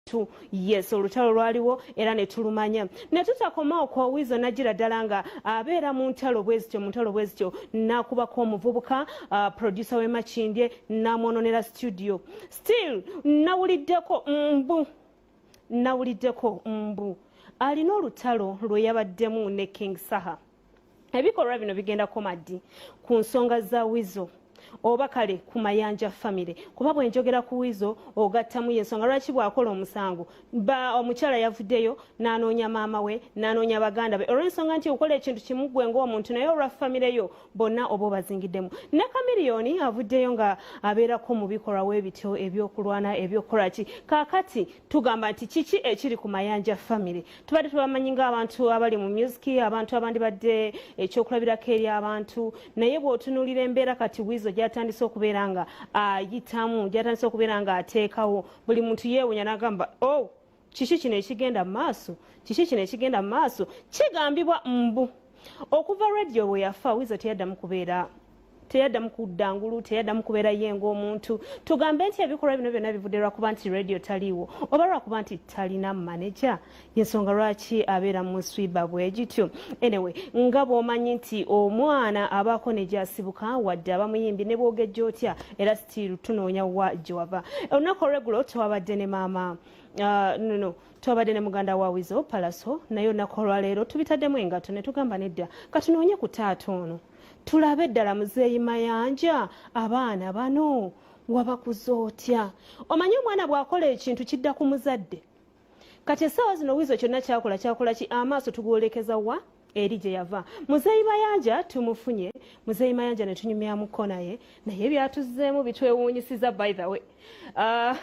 tu yes olutalo lwaliwo era ne tulumanya ne tutakoma okwo wizo najira ddala nga abeera mu ntalo bwe zityo mu ntalo bwe zityo n'akubako omuvubuka uh, producer w'e makindye n'amwononera studio still nawuliddeko mbu nawuliddeko mbu alina olutalo lwe yabaddemu ne king saha ebikolwa bino bigenda koma ddi ku nsonga za wizo oba kale ku mayanja famire kuba bwenjogera ku wizo ogattamu yensonga lwaki bwakola omusango ba omukyala yavuddeyo nanoonya maama we nanoonya baganda be olwensonga nti okola ekintu kimu gwe ngaomuntu naye olwa famire yo bonna oba obazingiddemu ne kamiriyoni avuddeyo nga abeerako mu bikolwa webityo ebyokulwana ebyokukolaki kakati tugamba nti kiki ekiri ku mayanja family tubadde tubamanyi ngaabantu abali mu music abantu abandibadde ekyokulabirako eri abantu naye bwotunulira embeera kati wizo gyatandise okubeera nga ayitamu gyatandise okubeera nga ateekawo buli muntu yeewunya nagamba o oh, kiki kino ekigenda mumaaso kiki kino ekigenda mumaaso kigambibwa mbu okuva radio bwe yafa wizo teyaddamu kubeera teyaddamu kudda ngulu teyaddamu kubeera ye ngaomuntu tugambe nti ebikolwa bino byonna bivudde lwakuba nti radio taliiwo oba lwakuba nti talina maneja yensonga lwaki abeera mu swiba bwegityo anyway nga bwomanyi nti omwana abaako negyasibuka wadde abamuyimbi ne bwogejja otya era stiiru tunoonya wa gyewava olunaku olwegulo twabadde ne maama uh, no, no. twabadde ne muganda wa wizo palaso naye olunaku olwaleero tubitaddemu engato ne tugamba nedda katunoonye ku taata ono tulabe ddala muzeeyi mayanja abaana bano wabakuza otya omanyi omwana bw'akola ekintu kidda ku muzadde kati essaawa zino wiizo kyonna kyakola kyakola ki amaaso tugwolekeza wa eri gye yava muzeeyi mayanja tumufunye muzeeyi mayanja ne tunyumyamuko naye naye byatuzzeemu bitwewuunyisiza by the way uh,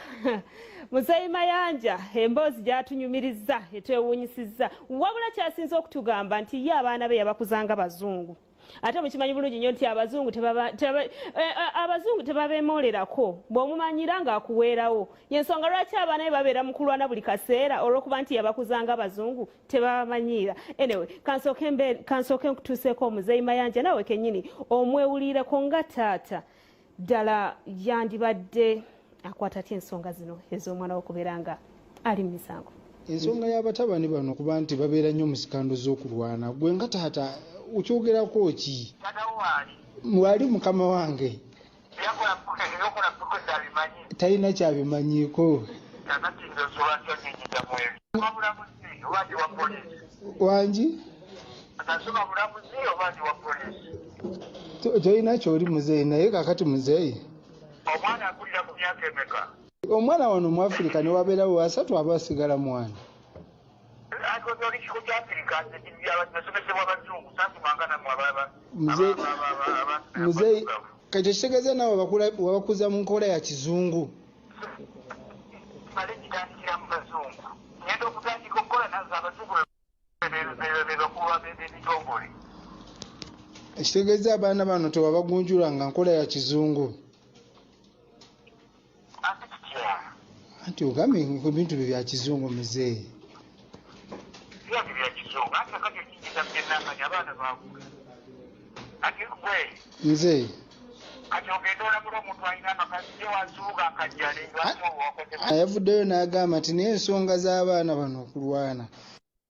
muzeeyi mayanja emboozi gyatunyumirizza etwewuunyisizza wabula kyasinze okutugamba nti ye abaana be yabakuzanga bazungu ate mukimanyi bulungi nyo nti abazungu eh, eh, abazungu tebabemolerako bwomumanyira nga akuweerawo yensonga lwaki abaana be babeera mukulwana buli kaseera olwokuba nti yabakuzanga abazungu tebabamanyiira anyway kansooke mbe kansooke nkutuuseeko omuzeeyi mayanja naawe kennyini omwewuliireko nga taata ddala yandibadde akwata atya ensonga zino ez'omwana wokubeera nga ali mu misango ensonga y'abatabani bano kuba nti babeera nnyo mu sikando z'okulwana gwe nga taata okyogerako ki mwali mukama wange talina kyabimanyiiko wangi tolina kyoli muzeeyi naye kakati muzeeyi omwana wano mu afirika newabeerawo asatu aba asigala mwana muzeyi kakyo kitegeeza nawe wabakuza mu nkola ya kizungu ekitegeeza abaana bano tewabagunjula nga nkola ya kizungu anti ogambye ebintu bye bya kizungu muzeeyi nze ayavuddeyo n'agamba nti naye ensonga z'abaana bano okulwana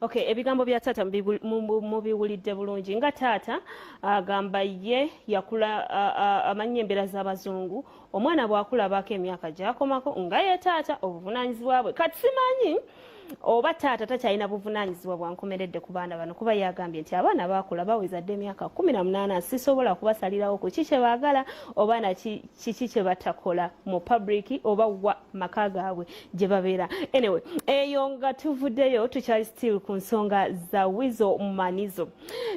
okay ebigambo bya taata mubiwulidde bulungi nga taata agamba ye yakula amanya embeera z'abazungu omwana bwakula abaako emyaka gyakomako nga ye taata obuvunanyizibwa bwe kati simanyi oba taata takyalina buvunanyizibwa bwankomeredde ku baana bano kuba yagambye nti abaana bakula baweza dde emyaka kumi na munaana sisobola kubasalirawo ku ki kye baagala oba na kiki kye batakola mu public oba wa maka gaabwe gye babeera anyway eyo nga tuvuddeyo tukyali still ku nsonga za wizo manizo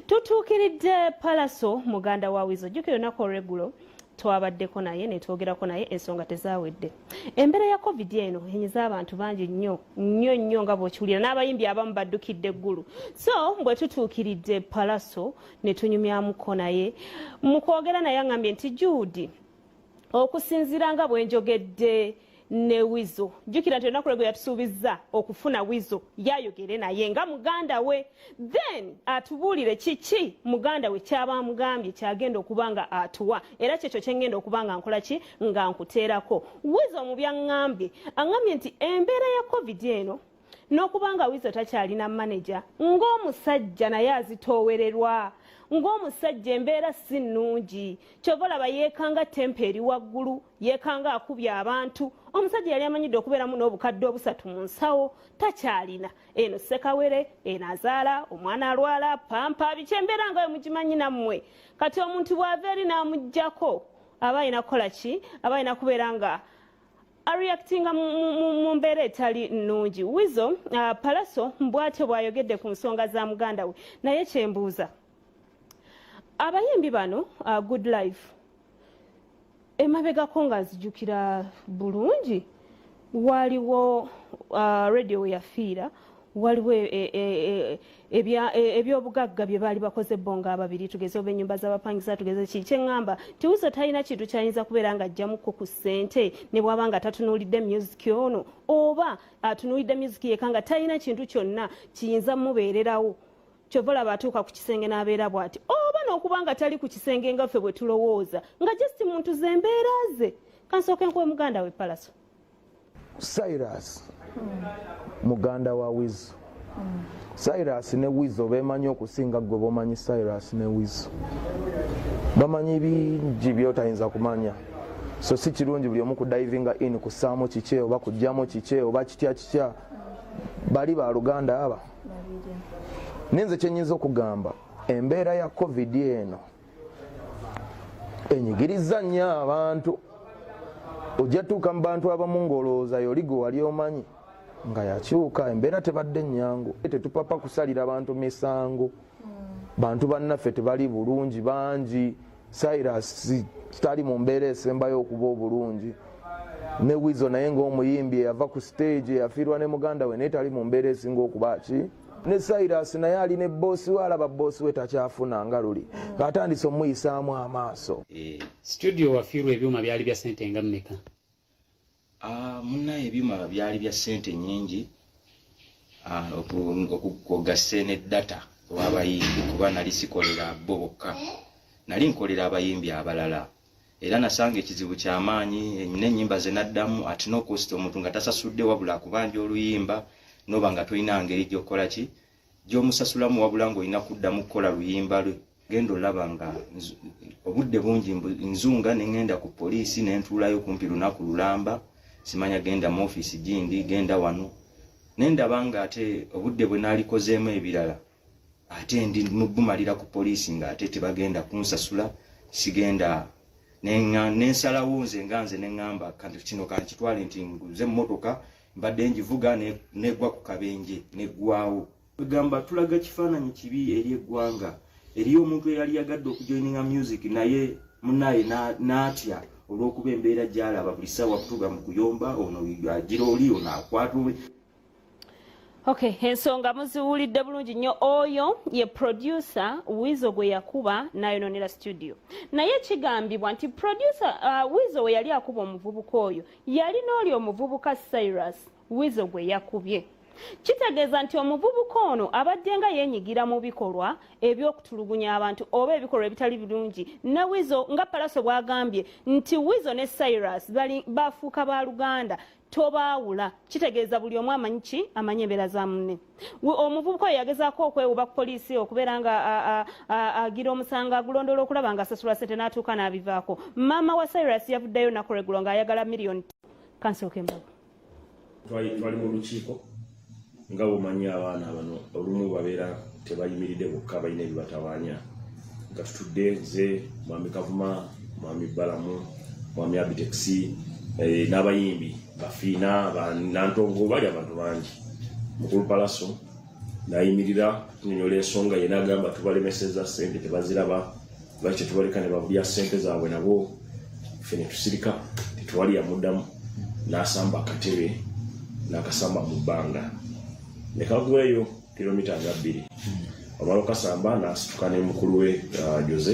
tutuukiridde palaso muganda wa wizo jjukira olunaku olwegulo twabaddeko naye netwogerako naye ensonga tezawedde embeera ya covid eno enyiza abantu bangi nnyo nnyo nnyo nga bwokiwulira n'abayimbi abamu baddukidde eggulu so bwe tutuukiridde palaso netunyumyamuko naye mu kwogera naye angambye nti juudi okusinziira nga bwenjogedde ne wizo jjukira nti olunaku lwegwe yatusuubizza okufuna wizo yayogere naye nga muganda we then atubuulire kiki muganda we kyaba amugambye kyagenda okuba nga atuwa era kyekyo kyengenda okuba nga nkola ki nga nkuteerako wizo omubyaŋŋambye aŋŋambye nti embeera ya covid eno n'okuba nga wizo takyalina maneja ng'omusajja naye azitoowererwa ng'omusajja embeera si nnungi kyova olaba yeekanga tempa eri waggulu yeekanga akubya abantu omusajja yali amanyidde okubeeramu n'obukadde obusatu mu nsawo takyalina eno sekawere eno azaala omwana alwala pampa biki embeera nga we mugimanyi nammwe kati omuntu bw'ava eri n'amugyako aba alina kukola ki aba alina kubeera nga areactinga mu mbeera etali nnungi wizo uh, palaso mbwatyo bw'ayogedde ku nsonga za muganda we naye kyembuuza abayimbi bano uh, good life emabegako nga nzijukira bulungi waliwo uh, radio weyafiira waliwo e, e, e, E, ebyobugagga bye baali bakoze bo nga ababiri tugeze oba enyumba z'abapangisa tugeze ki kyeŋŋamba tiwuzo talina kintu kyayinza kubeera nga ajjamukko ku ssente ne bwaba nga tatunuulidde myuziki ono oba atunuulidde myuziki yeka nga talina kintu kyonna kiyinza mubeererawo kyova olaba atuuka ku kisenge n'abeera bw'ati oba n'okuba nga tali ku kisenge nga ffe bwe tulowooza nga just muntu ze mbeera ze kansooke nkuwe muganda we palaso cyrus muganda wa wizo cyrus ne wizo bemanyi okusinga gwe bomanyi cyrus ne wizo bamanyi bingi byotayinza kumanya so si kirungi buli omu kudivinga in kusaamu kiki oba kujjamu kiki oba kitya kitya bali baluganda aba naye nze kyenyinza okugamba embeera ya covid eno enyigiriza nnyo abantu ojja tuuka mu bantu abamu ng'olowooza yoli gwe wali omanyi nga yakyuka embeera tebadde nnyangu tetupapa kusalira bantu misango bantu bannaffe tebali bulungi bangi cyrus tali mu mbeera esembayo okuba obulungi ne wizo naye ngaomuyimbi eyava ku stage eyafiirwa ne muganda we naye tali mu mbeera esinga okuba ki ne cyrus naye ali ne boosi we alaba boosi we takyafuna nga luli atandise omuyisaamu amaaso eh, studio wafiirwa ebyuma byali bya sente nga mmeka ah, munaye ebyuma byali bya sente nyingi ah, okugase ne data wabayimbi kuba nali sikolera bo bokka nali nkolera abayimbi abalala era nasanga ekizibu kyamaanyi nenyimba zenaddamu at no cost omuntu nga tasasudde wabula akubanja oluyimba noba nga tolina ngeri gyokukola ki gyomusasulamu wabula nga olina kuddamu kukola luyimba lwe genda olaba nga obudde bungi nzunga nengenda ku poliisi nentuulayo kumpi lunaku lulamba simanya genda mu ofiisi gindi genda wano nendaba nga ate obudde bwe nalikozeemu ebirala ate ndi mubumalira ku poliisi nga ate tebagenda kunsasula sigenda nensalawo nze nga nze neŋŋamba kanti kino kankitwale nti nguze emmotoka mbadde ngivuga negwa ku kabenje neggwawo egamba tulaga kifaananyi kibi eri eggwanga eriyo omuntu eyali yagadde okujoininga music naye munaye n'atya olw'okuba embeera gyalaba buli ssaawa kutuga mu kuyomba ono agira oli ono akwata Okay, ensonga muziwulidde bulungi nnyo oyo ye producer wizo gwe yakuba nayononera studio naye kigambibwa nti producer uh, wizo we yali akuba omuvubuka oyo yali n'oli omuvubuka cyrus wizo gwe yakubye kitegeeza nti omuvubuka ono abadde nga yenyigira mu bikolwa ebyokutulugunya abantu oba ebikolwa ebitali birungi ne wizo nga palaso bwagambye nti wizo ne cyrus bafuuka ba luganda tobaawula kitegeeza buli omu amanyi ki amanyi embeera za munne omuvubuka oyo yagezaako okwewuba ku poliisi okubeera nga agira omusango agulondoola okulaba nga asasula sente n'atuuka n'abivaako maama wa cyrus yavuddeyo nakuregulo ng'ayagala miliyoni kansookembago twali mu lukiiko nga bumanyi abaana bano olumu babeera tebayimiridde bokka balina ebibatawaanya nga tutudde nze mwami kavuma mwami balamu mwami abitexi eh, n'abayimbi bafiina banantongo bali abantu bangi mukulu palaso nayimirira tunyonyola ensonga yena agamba tubalemeseza sente tebaziraba lwaki tetubaleka ne babulya sente zaabwe nabo fe ne tusirika tetuwali yamuddamu n'asamba akatebe n'akasamba mu bbanga ne kagweyo kilomita nga bbiri omala okasamba n'asituka ne mukulu we uh, jose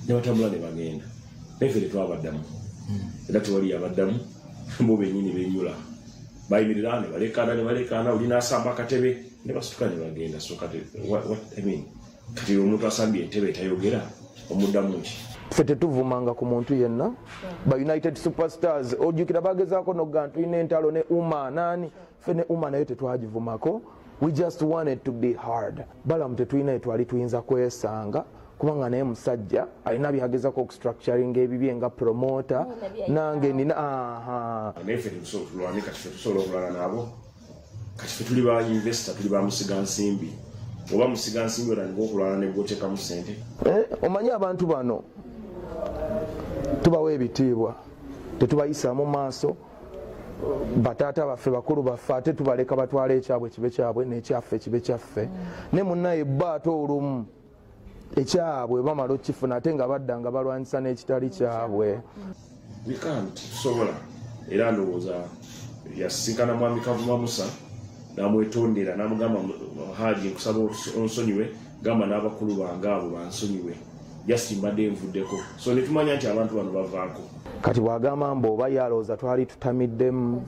ne batambula ne bagenda naye fe tetwabaddamu era tewali yabaddamu bo benyini benyula bayimirira ne balekaana ne balekaana oli n'asamba akatebe ne basituka ne bagenda so kati what, what, I mean, kati omuntu asambye entebe tayogera omuddamu ki ffe tetuvumanga ku muntu yenna ba united superstars ojjukira bagezaako nogga ntulina entalo ne uma naani ffe ne uma naye tetwagivumako we just wanted to be hard balamu tetulina yetwali tuyinza kwesanga kubanga naye musajja alina byagezako okustructuring ebibye nga promota nange nina aha kati fe tuli ba investor tuli ba musiga nsimbi oba musiga nsimbi otandika okulwana negwotekamu sente eh, omanyi abantu bano tubawa ebitiibwa tetubayisaamu maaso bataata baffe bakulu baffe ate tubaleka batwala ekyabwe kibe kyabwe nekyaffe kibe kyaffe ne munaye bba ate olumu ekyabwe bamala okifuna ate nga badda nga balwanyisa n'ekitali kyabwe sobola era ndowooza yasisinkana mwami kavuma musa namwetondera namugamba haji nkusaba onsonyiwe gamba n'abakulu bange abo bansonyiwe just mbadde nvuddeko so netumanya nti abantu bano bavaako kati bwagamba mbu oba yalowooza twali tutamiddemu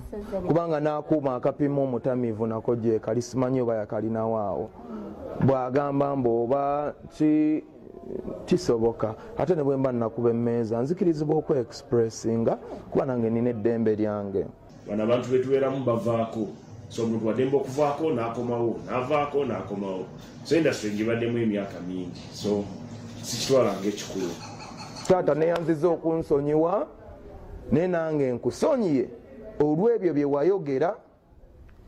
kubanga n'akuuma akapima omutamivu nako gyekali simanyi oba yakalinawo awo bwagamba mbu oba ki kisoboka ate ne bwemba nakuba emmeeza nzikirizibwa okuexpressinga kuba nange nina eddembe lyange bano abantu betubeeramu bavaako so omuntu wademba okuvaako nakomawo navaako nakomawo so industry ngibaddemu emyaka mingi so sikitwala nga ekikulu taata neyanziza okunsonyiwa naye nange nkusonyiye olw'ebyo bye wayogera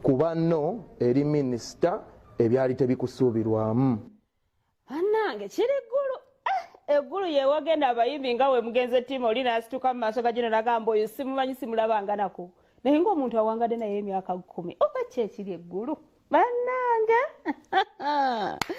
kuba no eri minisita ebyali tebikusuubirwamu banange kiri ggulu eh, eggulu yewagenda abayimbi nga we mugenze tiimu oli nasituka mu maaso gagino nagamba oyo simumanyi simulabanganako naye ngaomuntu awangadde naye emyaka kkumi oba kyekiri eggulu banange